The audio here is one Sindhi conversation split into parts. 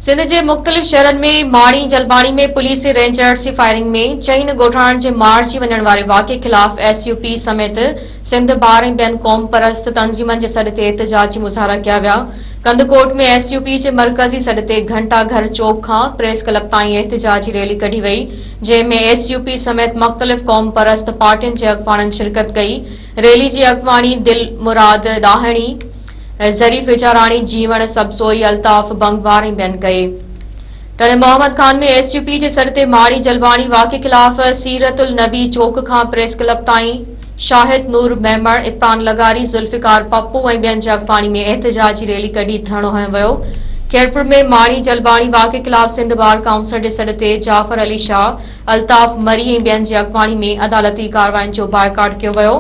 سنڌ جي مختلف شهرن ۾ ماڻي جلباڻي ۾ پوليس رينجرز جي فائرنگ ۾ چئن ڳوٺاڻن جي مارجي وڃڻ واري واقعي خلاف ايس يو پي سميت سنڌ بار ۽ ٻين قوم پرست تنظيمن جي سڏ تي احتجاجي مظاهرا ڪيا ويا ڪنڌڪوٽ ۾ ايس يو پي جي مرڪزي سڏ تي گهنٽا گهر چوڪ کان پريس ڪلب تائين احتجاجي ريلي ڪڍي وئي جنهن ۾ ايس يو پي سميت مختلف قوم پرست پارٽين جي اڳواڻن شرڪت ڪئي ريلي جي اڳواڻي دل مراد ڏاهڻي، ظريف وچاراڻي، جيوڻ سبزوئي، الطاف بنگوار ۽ ٻين ڪئي. Tando Muhammad Khan ۾ S U P جي سر تي ماڙي جلواڻي واقعي خلاف سيرت النبي چوڪ کان پريس ڪلب تائين شاهد نور ميمڻ، عفران لغاري، ذوالفقار پپو ۽ ٻين جي اڳواڻي ۾ احتجاجي ريلي ڪڍي ڌرڻو هنيو ويو. خيرپور ۾ ماڙي جلواڻي واقعي خلاف سنڌ بار ڪائونسل جي سڏ تي جعفر علي شاهه، الطاف مري ۽ ٻين جي اڳواڻي ۾ عدالتي ڪاررواين جو بائيڪاٽ ڪيو ويو.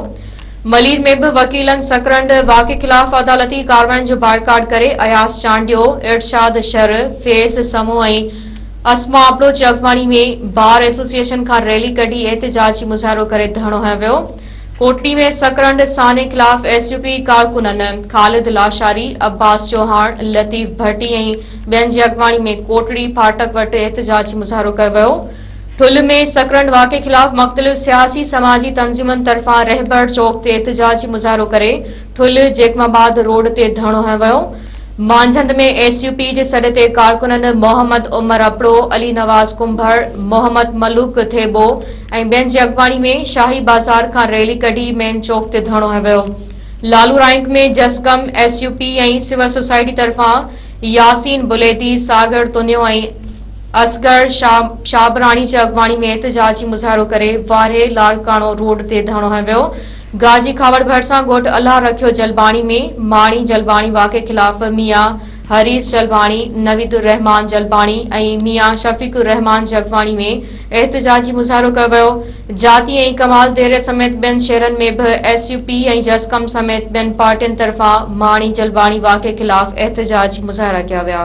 ملير ۾ به وڪيلن سڪرنڊ واڪي خلاف عدالتي ڪاررواين جو بائيڪاٽ ڪري اياز چانڊيو، ارشاد شر، فيض سمون ۽ اسما ابڙو جي اڳواڻي ۾ بار ايسوسيئيشن کان ريلي ڪڍي احتجاجي مظاهرو ڪري ڌرڻو هنيو ويو. ڪوٽڙي ۾ سڪرنڊ سانحي خلاف ايس يو پي ڪارڪنن خالد لاشاري، عباس چوهاڻ، لطيف ڀٽي ۽ ٻين جي اڳواڻي ۾ ڪوٽڙي ڦاٽڪ وٽ احتجاجي مظاهرو ڪيو ويو ٺل ۾ سڪرنڊ واقعي خلاف مختلف سياسي سماجي تنظيمن طرفان رهبر چوڪ تي احتجاجي مظاهرو ڪري ٺل جيڪب آباد روڊ تي ڌرڻو هنيو ويو مانجهند ۾ ايس يو پي جي سڏ تي ڪارڪنن محمد عمر اپڙو علي نواز ڪنڀر محمد ملوڪ ٿيٻو ۽ ٻين جي اڳواڻي ۾ شاهي بازار کان ريلي ڪڍي مين چوڪ تي ڌرڻو هنيو ويو Lalu Raunk ۾ Jasqam S U P ۽ civil society طرفان ياسين بليدي، ساگر تنيو ۽ اصغر شابراڻي جي اڳواڻي ۾ احتجاجي مظاهرو ڪري وارهي لاڙڪاڻو روڊ تي ڌرڻو هنيو ويو. گاجي کاوڙ ڀرسان ڳوٺ الله رکيو جلباڻي ۾ ماڻي جلباڻي واقعي خلاف ميان حريص جلباڻي، نويد الرحمان جلباڻي ۽ ميان شفيق الرحمان جي اڳواڻي ۾ احتجاجي مظاهرو ڪيو ويو، جاتي ۽ ڪمال ديري سميت ٻين شهرن ۾ به ايس يو پي ۽ جسقم سميت ٻين پارٽين طرفان ماڻي جلباڻي واقعي خلاف احتجاجي مظاهرا ڪيا ويا.